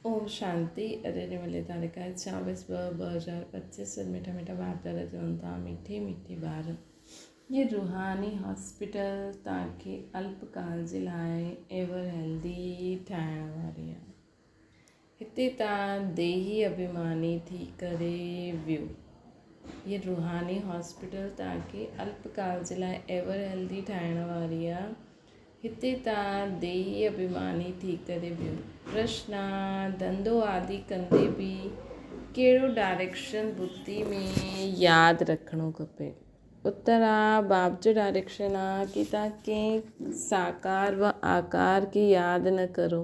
اوم شانتي اڄ جي ملي تاريخ آهي چاويس ٻه ٻه هزار پچيس مٺا مٺا ڀاتر چون ٿا مٺي مٺي ٻار جي روحاني هاسپيٽل تان کي الپ ڪال جي لاء ايور هيلدي ٺاهڻ واري آهي هتي تان ديهي اڀيماني ٿي ڪري ويو هي روحاني هاسپيٽل تان کي الپ ڪال جي لاء ايور هيلدي ٺاهڻ واري آهي هتي ته ديهي اڀيماني ٿي ڪري ويو. ڪرشنا ڌنڌو آدي ڪندي به ڪهڙو ڊائريڪشن بتي ۾ ياد رکڻو کپي. اتر آ باب جو ڊائريڪشن آ ڪي تان ڪين ساڪار و آڪار ڪي ياد نه ڪرو.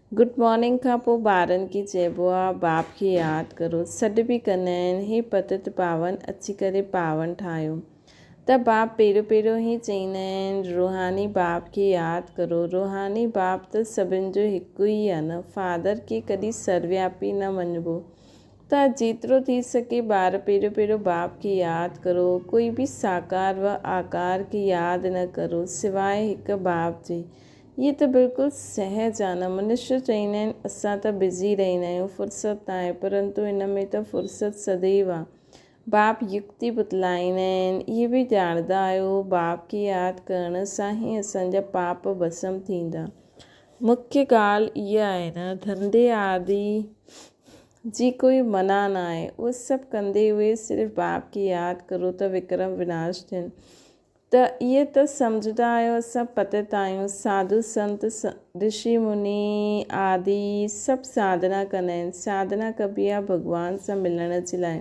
گڊ مارننگ کان پوء ٻارن کي چئبو آ باب کي ياد ڪرو. سڏ به ڪندا آهن هي پتت پاون اچي ڪري پاون ٺاهيو ته باب پهريون پهريون هي چئيندا آهن روحاني باب کي ياد ڪرو. روحاني باب ته سڀن جو هڪ ئي آ نه. فادر کي ڪڏهن سروياپي نه مڃبو ته جيترو ٿي سگهي ٻار پهريون پهريون باب کي ياد ڪرو. ڪوئي به ساڪار و آڪار کي ياد نه ڪرو سواء هڪ باب جي هيء ته بلڪل سهج آ نه. منشيو چئيندا آهن اسان ته بزي رهيندا آهيون، فرصت ناهي، پرنتو ان ۾ ته فرصت سديو آ. باپ يڪتي بتلائيندا آهن، اهي به ڄاڻدا آهيو، باپ کي ياد ڪرڻ سان ئي اسان جا پاپ ڀسم ٿيندا. مکيه ڳالهه اها آهي نه، ڌنڌي آدي جي ڪوئي منع ناهي، اهو سڀ ڪندي اهي صرف باپ کي ياد ڪرو ته وڪرم وناش ٿين. ته ايئن ته سمجهندا آهيو اسان پتت آهيون، ساڌو سنت، رشي مني آدي سڀ ساڌنا ڪندا آهن، ساڌنا ڪبي آهي ڀڳوان سان ملڻ جي لاء،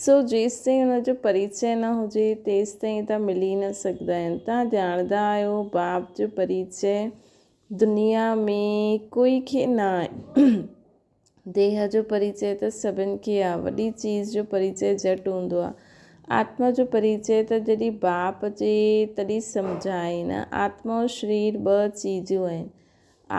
سو جيستائين ان جو پريچئه نه هجي تيستائين تان ملي نه سگهندا آهن، تان ڄاڻندا آهيو باب جو پريچئه دنيا ۾ ڪوئي کي نه آهي. ديهه جو پريچئه ته سڀن کي آ. وڏي چيز جو پريچئه جهٽ هوندو آ. آتما جو پريچئه ته جڏهن باپ اچي تڏهن سمجهائين. آتما ۽ شرير ٻه چيزون آهن.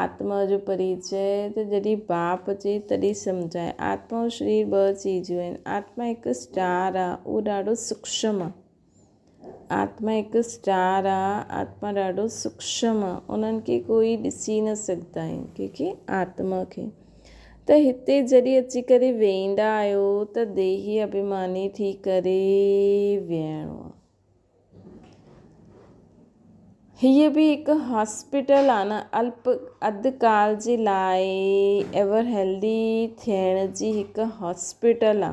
آتما جو پريچئه ته جڏهن باپ اچي تڏهن سمجهائين. آتما ۽ شرير ٻه چيزون آهن. آتما هڪ اسٽار آ. اهو ڏاڍو سوکشم آ. آتما هڪ اسٽار آ آتما ڏاڍو سوڪشم آ انهن کي ڪوئي ڏسي نه سگهندا آهن ڪيونڪه آتما کي ته هتي جڏهن اچي ڪري ويهندا آهيو ته ديهي اڀيماني ٿي ڪري ويهڻو آ هيء به هڪ هاسپيٽل آ نه الپ اڌ ڪال جي لاء ايور هيلدي ٿيڻ جي هڪ هاسپيٽل آ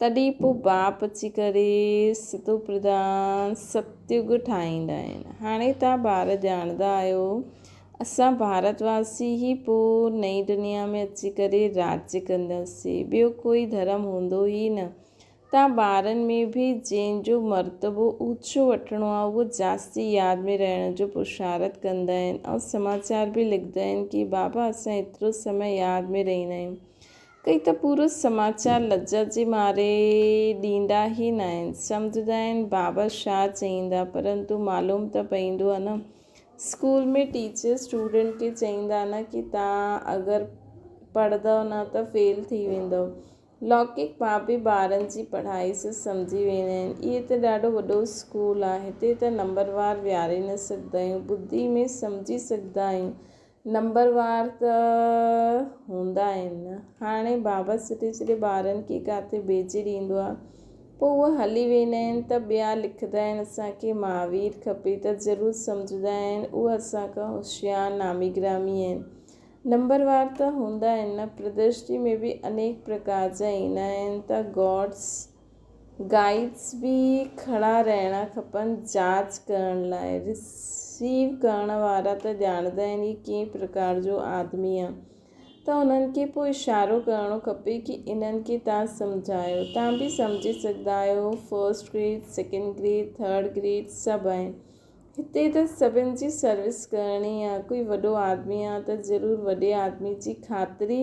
تڏهن پوء باپ اچي ڪري سڌو پرڌان ستيوگ ٺاهيندا آهن. هاڻي توهان ٻار ڄاڻندا آهيو، اسان ڀارت واسي ئي پوء نئين دنيا ۾ اچي ڪري راڄ ڪنداسين، ٻيو ڪوئي ڌرم هوندو ئي نه. توهان ٻارن ۾ به جنهن جو مرتبو اوچو وٺڻو آهي، اهو جاستي ياد ۾ رهڻ جو پرشارت ڪندا آهن ۽ سماچار به لکندا آهن ڪي بابا اسان ايترو سمي ياد ۾ رهندا آهيون. ڪئي ته پورس سماچار لڄ جي ماري ڏيندا ئي ناهن. سمجهندا آهن بابا شاهه چئيندا پرنتو معلوم ته پئيندو آهي نه. اسڪول ۾ ٽيچر اسٽوڊنٽ کي چئيندا نه ڪي تان اگر پڙهندؤ نه ته فيل ٿي ويندؤ. لوڪڪ بابي ٻارن جي پڙهائي سڀ سمجهي ويندا آهن. اهي ته ڏاڍو وڏو اسڪول آهي هتي ته نمبر وار ويهاري نه سگهندا آهيون ٻڌي ۾ سمجهي سگهندا آهيون نمبروار ته هوندا آهن. هاڻي بابا سڏي سڏي ٻارن کي ڪاٿي ڀيجي ڏيندو آهي. پوء اهي هلي ويندا آهن ته ٻيا لکندا آهن اسان کي مهاوير کپي ته ضرور سمجهندا آهن اهي اسان کان هوشيار نامي گرامي آهن. نمبروار ته هوندا آهن نه پردرشني ۾ به انيڪ پرڪار جا ايندا آهن ته گوڊس، گائيڊز به ڪھڙا رھڻا کپن جاچ ڪرڻ لاء. رسيو ڪرڻ وارا ته ڄاڻندا آھن ھي ڪنھن پرڪار جو آدمي آ ته انھن کي پوء اشارو ڪرڻو کپي ڪي انھن کي تھان سمجھايو تھان به سمجھي سگھندا آھيو first grade second grade third grade سڀ آھن ھتي ته سڀن جي سروس ڪرڻي آ ڪوئي وڏو آدمي آ ته ضرور وڏي آدمي جي خاطري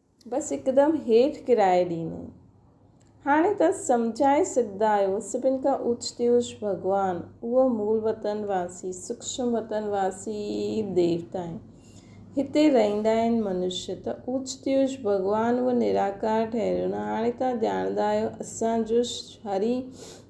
بس هڪدم هيٺ ڪرائي ڏيني. هاڻي ته سمجهائي سگهندا آهيو، سڀن کان اوچتي اوچ ڀڳوان، اهو مول وطن واسي، سوڪشم وطن واسي ئي ديوتا آهن. هتي رهندا آهن منشي ته اوچتي اوچ ڀڳوان اهو نراڪار ٺهريو نه. هاڻي توهان ڄاڻندا آهيو اسان جو هري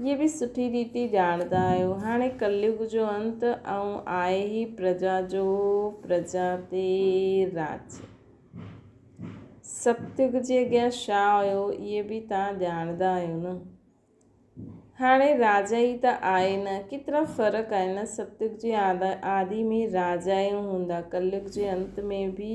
اهي به سٺي ريتي ڄاڻندا آهيو. هاڻي ڪليگ جو انت ۽ آهي هي پرجا جو پرجا تي راڄ. ستيگ جي اڳيان ڇا هيو اهي به توهان ڄاڻندا آهيو نه. هاڻي راجا ئي ته آهي نه. ڪيترا فرق آهن نه. ستيگ جي آدي ۾ راجا ئي هوندا ڪليگ جي انت ۾ به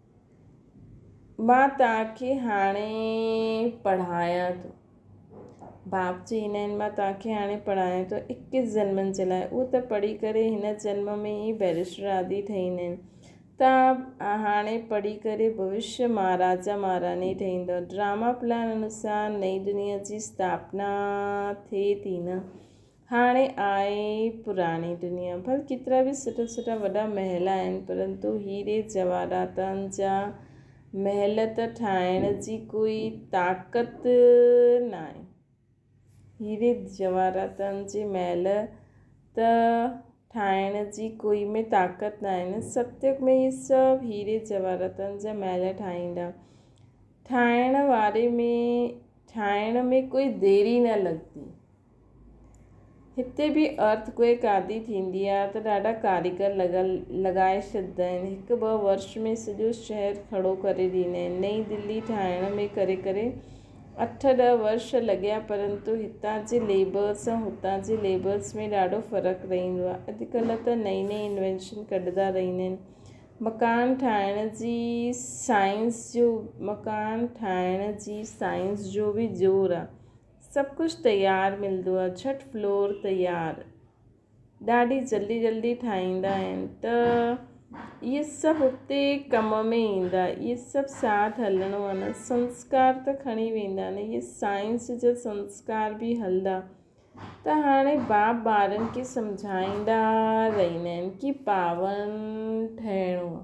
مان توهان کي هاڻي پڙهايان ٿو. باپ جي هن ۽ مان توهان کي هاڻي پڙهايان ٿو اڪيس جنمن جي لاء. اهو ته پڙهي ڪري هن جنم ۾ ئي بئريسٽر آدي ٺهي ويندا آهن. توهان هاڻي پڙهي ڪري ڀوشيه مهاراجا مهاراڻي ٺهي ويندؤ. ڊراما پلان انوسار نئين دنيا جي اسٿاپنا ٿئي ٿي نه؟ هاڻي آء پراڻي دنيا ڀر ڪيترا به سٺا سٺا وڏا محل آهن پرنتو هيري جواهراتن جا محل ته ٺاهڻ جي ڪوئي طاقت ناهي هيري جواهراتن جي محل ته ٺاهڻ جي ڪوئي ۾ طاقت ناهي نه ستيگ ۾ هي سڀ هيري جواهراتن جا محل ٺاهيندا ٺاهڻ واري ۾ ٺاهڻ ۾ ڪوئي ديري نه لڳندي هتي به ارٿ ڪوئڪ عادي ٿيندي آهي ته ڏاڍا ڪاريگر لڳا لڳائي ڇڏيندا آهن. هڪ ٻه ورش ۾ سڄو شهر کڙو ڪري ڏيندا آهن. نئين دلي ٺاهڻ ۾ ڪري ڪري اٺ ڏهه ورش لڳيا پرنتو هتان جي ليبرز ۽ هتان جي ليبرز ۾ ڏاڍو فرق رهندو آهي. اڄڪلهه ته نئين نئين انوينشن ڪڍندا رهندا آهن. مڪان ٺاهڻ جي سائنس جو مڪان ٺاهڻ جي سائنس جو به زور آهي. سڀ ڪجھ تيار ملدو آ جھٽ فلور تيار ڏاڍي جلدي جلدي ٺاهيندا آهن ته اهي سڀ اتي ڪم ۾ ايندا اهي سڀ ساٿ هلڻو آ نه سنسڪار ته کڻي ويندا نه اهي سائنس جا سنسڪار به هلدا ته هاڻي باپ ٻارن کي سمجهائيندا رهيندا آهن ڪي پاون ٺهڻو آ.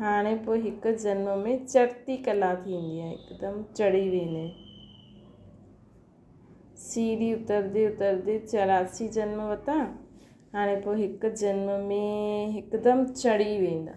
هاڻي پوء هڪ جنم ۾ چڙتي ڪلا ٿيندي آهي هڪدم چڙهي ويندي آهي سيڙهي اتردي اتردي چوراسي جنم وتا هاڻي پوء هڪ جنم ۾ هڪدم چڙهي ويندا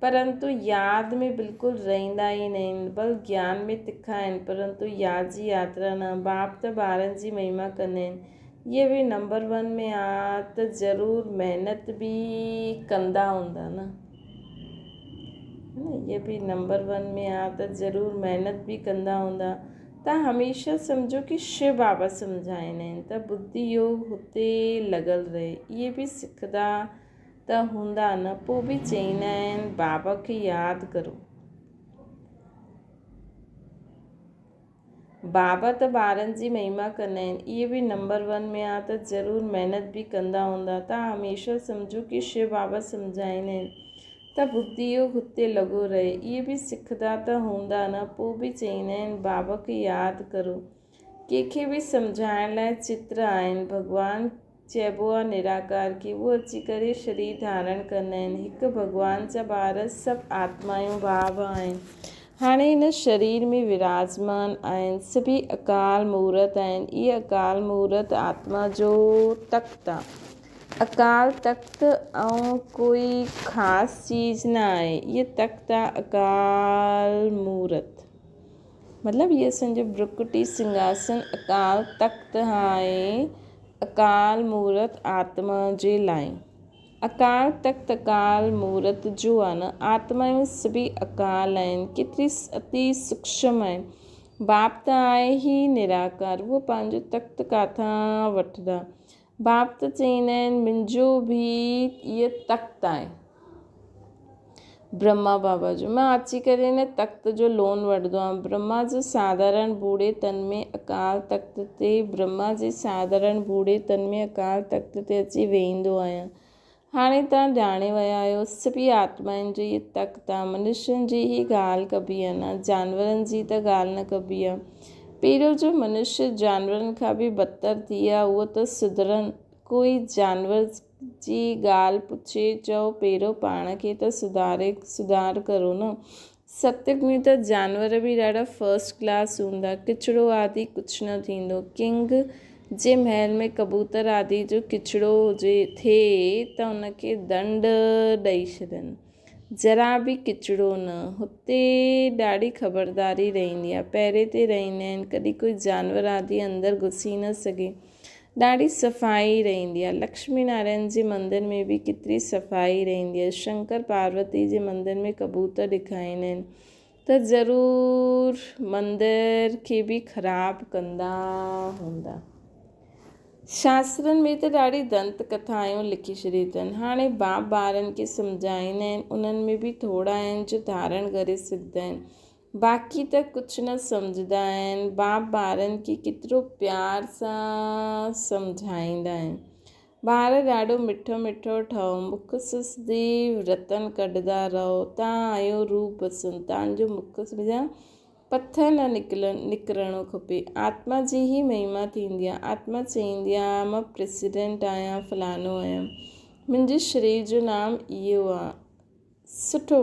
پرنتو ياد ۾ بلڪل رهندا ئي ناهن، بل گيان ۾ تکا آهن، پرنتو ياد جي ياترا نه. باپ ته ٻارن جي مهما ڪندا آهن، اهي به نمبر ون ۾ آ ته ضرور محنت به ڪندا هوندا نه. اهي به نمبر ون ۾ آ ته ضرور محنت به ڪندا هوندا. تان هميشه سمجهو ڪي شو بابا سمجهائيندا آهن ته ٻڌي يوگ هتي لڳل رهي. اهي به سکندا. ته هوندا نه پو به چئيندا آهن بابا کي ياد ڪرو بابا ته ٻارن جي مهما ڪندا آهن اهي به نمبر ون ۾ آ ته ضرور محنت به ڪندا هوندا ته هميشه سمجهو ڪي شو بابا سمجهائيندا آهن ته بگدي اهو هتي لڳو رهي اهي به سکدا ته هوندا نه پو به چئيندا آهن بابا کي ياد ڪرو ڪنهن کي به سمجهائڻ لاء چتر آهن. ڀڳوان چئبو آ نراڪار کي. اهو اچي ڪري شرير ڌارڻ ڪندا آهن. هڪ ڀڳوان جا ٻار سڀ آتمايون ڀاو آهن. هاڻي هن شرير ۾ وراجمان آهن. سڀيئي اڪال مورت آهن. اهي اڪال مورت آتما جو تخت آ. اڪال تخت ائون ڪوئي خاص چيز نه آهي. اهي تخت آ اڪال مورت. مطلب هيء سن جو برڪٽي سنگهاسن اڪال تخت هانء اڪال مورت آتما جي لائين. اڪال تخت اڪال مورت جو آهي نه آتمائون سڀئي اڪال آهن ڪيتري اتي سوڪشم آهن. باپ ته آهي ئي نراڪار اهو پنهنجو تخت ڪاٿان وٺندا. باب ته چئيندا آهن منهنجو به اهي تخت آهن برهما بابا جو مان اچي ڪري هن تخت جو لون وٺندو آهيان برهما جي ساڌارڻ ڀوڙي تن ۾ اڪال تخت تي برهما جي ساڌارڻ ڀوڙي تن ۾ اڪال تخت تي اچي ويهندو آهيان هاڻي توهان ڄاڻي ويا آهيو سڀيئي آتمائن جي تڪ تان منشين جي ئي ڳالهه ڪبي آهي نه جانورن جي ته ڳالهه نه ڪبي آهي. پيرو جو منشي جانورن کان به بدتر ٿي آهي اهو ته سڌرن. ڪوئي جانور جي ڳالهه پڇي چئو پيرو پاڻ کي ته سڌاري سڌار ڪرو نه. سڪتڪ ۾ ته جانور به ڏاڍا فرسٽ ڪلاس هوندا. ڪچڙو آدي ڪجهه نه ٿيندو. ڪنگ جي محل ۾ ڪبوتر آدي جو ڪچڙو هجي ٿئي ته ان کي دنڊ ڏئي ڇڏن. ذرا به ڪچڙو نه. هتي ڏاڍي خبرداري رهندي آهي. پهري تي رهندا آهن. ڪڏهن ڪوئي جانور آدي اندر گهسي نه سگهي. ڏاڍي صفائي رهندي آهي لڪشمي نارائڻ جي مندر ۾ به ڪيتري صفائي رهندي آهي شنڪر پاروتي جي مندر ۾ ڪبوتر ڏکائيندا آهن ته ضرور مندر کي به خراب ڪندا هوندا شاسترن ۾ ته ڏاڍي دنت ڪٿايون لکي ڇڏي اٿن هاڻي باپ ٻارن کي سمجهائيندا آهن انهن ۾ به ٿورا آهن جو ڌارڻ ڪري سگهندا آهن باقي ته ڪجهه نه سمجهدا آهن. باپ ٻارن کي ڪيترو پيار سان سمجهائيندا آهن. ٻار ڏاڍو مٺو مٺو ٺهو مک سسدي رتن ڪڍدا رهو تان آيون روح بسن تان جو مک جا پٿر نه نڪلن نڪرڻو کپي آتما جي هي مهما ٿيندي آهي آتما چئيندي آهي مان پريسيڊنٽ آهيان فلانو آهيان منهنجي شرير جو نام اهو آهي سٺو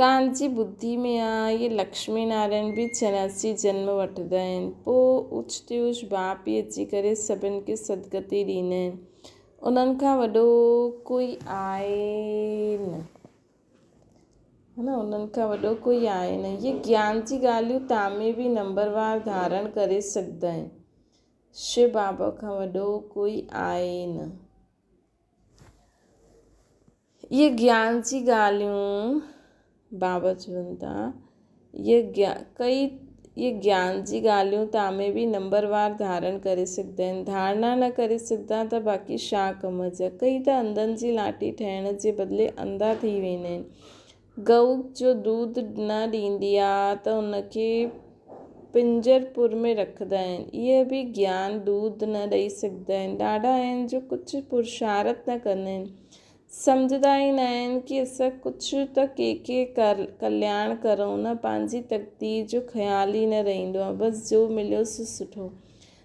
تان جي ٻڌي ۾ آ اهي لڪشمي نارائڻ به چناس جي جنم وٺندا آهن پوء اوچتي اوچ ٻانپ ئي اچي ڪري سڀن کي سدگتي ڏيندا آهن انهن کان وڏو ڪوئي آهي نه ها نه انهن کان وڏو ڪوئي آهي نه اهي گيان جي ڳالهيون تان ۾ به نمبر وار ڌارڻ ڪري سگهندا آهن شو بابا کان وڏو ڪوئي آهي نه. اهي گيان جي ڳالهيون بابت چون ٿا اهي گيان ڪئي اهي گيان جي ڳالهيون تان ۾ بي نمبر وار ڌارڻ ڪري سگهندا آهن ڌارڻا نه ڪري سگهندا ته باقي شا ڪم جا ڪئي ته انڌن جي لاٽي ٺهڻ جي بدلي انڌا ٿي ويندا آهن ڳئو جو دود نه ڏيندي آ ته ان کي پنجر پور ۾ رکندا آهن. اهي به گيان دود نه ڏئي سگهندا آهن. ڏاڍا آهن جو ڪجهه پرشارت نه ڪندا آهن. سمجهندا ئي نه آهن ڪي اسان ڪجهه ته ڪي ڪي ڪلياڻ ڪرون نه پنهنجي تقدير جو خيال ئي نه رهندو آ بس جو مليو سو سٺو.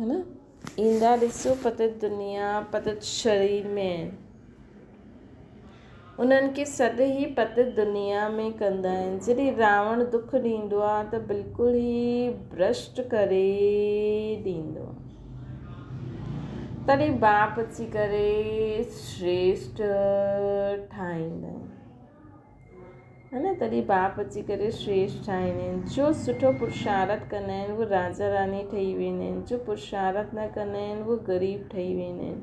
ايندا ڏسو پتت دنيا پتت شري ۾. انهن کي سڏ هي پتت دنيا ۾ ڪندا آهن. جڏهن راوڻ دک ڏيندو آهي ته بلڪل ئي برسٽ ڪري ڏيندو آهي. تڏهن باپ اچي ڪري سريشٽ ٺاهيندا آهن. ھن تڏھن باپ اچي ڪري شريٺ ٺاھيندي ھين جو سٺو پرشارٿ ڪندا ھين اھي راجا راڻي ٺھي ويندا ھين جو پرشارٿ نه ڪندا ھين اھي غريب ٺھي ويندا ھين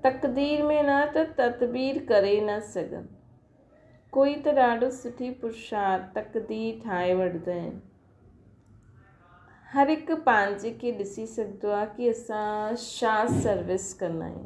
تقدير ۾ نه ته تدبير ڪري نه سگھن ڪوئي ته ڏاڍو سٺي پرشارٿ تقدير ٺاھي وٺدا ھين ھر ھڪ پنھنجي کي ڏسي سگھدو آھي ڪي اسان شا سروس ڪندا آھيون.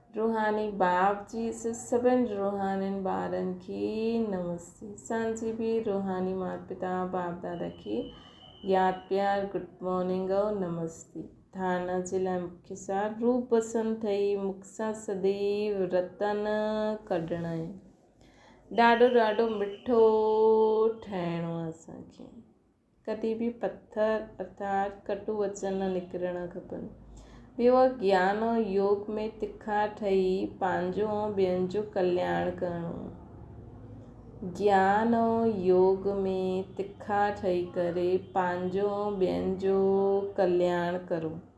روحاني باب جي سڀن روحانين ٻارن کي نمستي اسان جي به روحاني مات پتا باب دادا کي ياد پيار گڊ مارننگ ۽ نمستي ٿانه جي لاء مکي سار روح پسند ٿئي مک سان سديو رتن ڪڍڻائين ڏاڍو ڏاڍو مٺو ٺهڻو اسان کي. ڪڏهن به پٿر ارٿات ڪٽو وچن نه نڪرڻ کپن. ٻيو آهي گيان ۽ يوگ ۾ تکا ٺهي پنهنجو ۽ ٻين جو ڪلياڻ ڪرڻو. گيان ۽ يوگ ۾ تکا ٺهي ڪري پنهنجو ۽ ٻين جو ڪلياڻ ڪرو.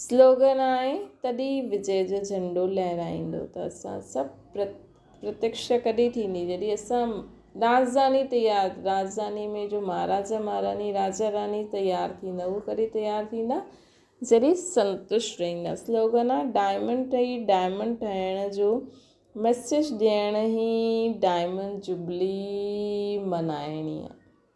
سلوگن آهي تڏهن وجي جو جهنڊو لهرائيندو ته اسان سڀ پرت پرتيڪشا ڪڏهن ٿيندي جڏهن اسان رازڌاني تيار رازڌاني ۾ جو مهاراجا مهاراڻي راجا راڻي تيار ٿيندا هو ڪڏهن تيار ٿيندا جڏهن سنتوش رهندا سلوگن آهي ڊائمنڊ ٺهي ڊائمنڊ ٺهڻ جو ميسيج ڏيڻ هي ڊائمنڊ جبلي منائڻي آهي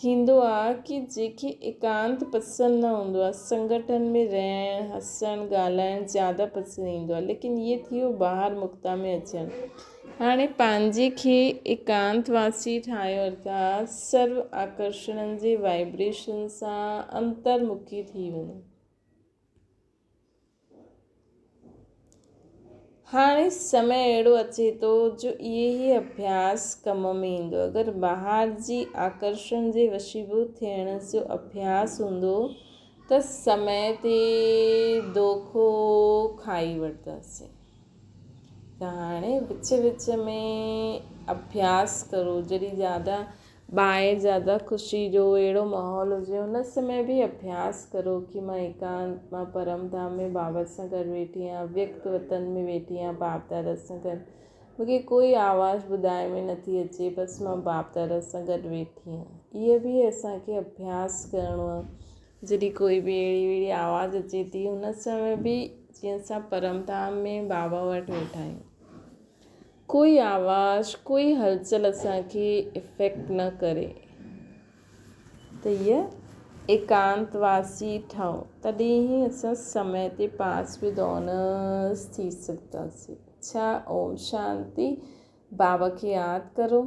ٿيندو آ ڪي جيڪي ايڪانت پسند نه هوندو آ سنگٺن ۾ رهڻ هسڻ ڳالهائڻ زياده پسند ايندو آ ليڪن هي ٿيو ٻاهر مڪتا ۾ اچڻ هاڻي پنهنجي کي ايڪانت واسي ٺاهيو اٿا سرو آڪرشڻن جي وائبريشن سان انتر مکي ٿي وڃو. هاڻي سمي اهڙو اچي ٿو جو اهي ئي اڀياس ڪم ۾ ايندو. اگر بهار جي آڪرشڻ جي وشيڀو ٿيڻ جو اڀياس هوندو ته سمي تي دوکو کائي وٺنداسين. ته هاڻي وچ وچ ۾ اڀياس ڪرو جڏهن زياده ٻاهر زياده خوشي جو اهڙو ماحول هجي ان سمي به اڀياس ڪرو ڪي مان ايڪانت مان پرم ڌام ۾ بابت سان گڏ ويٺي آهيان اويڪت وطن ۾ ويٺي آهيان باب دادا سان گڏ مون کي ڪوئي آواز ٻڌاء ۾ نٿي اچي بس مان باب دادا سان گڏ ويٺي آهيان اهي به اسان کي اڀياس ڪرڻو آهي جڏهن ڪوئي به اهڙي وهڙي آواز اچي ٿي ان سمي به جيئن اسان پرم ڌام ۾ بابا وٽ ويٺا آهيون ڪوئي آواز ڪوئي هلچل اسان کي افيڪٽ نه ڪري ته هيء ايڪانت واسي ٺهو تڏهن ئي اسان سمي تي پاس ود آنرس ٿي سگهنداسين ڇا اوم شانتي بابا کي ياد ڪرو.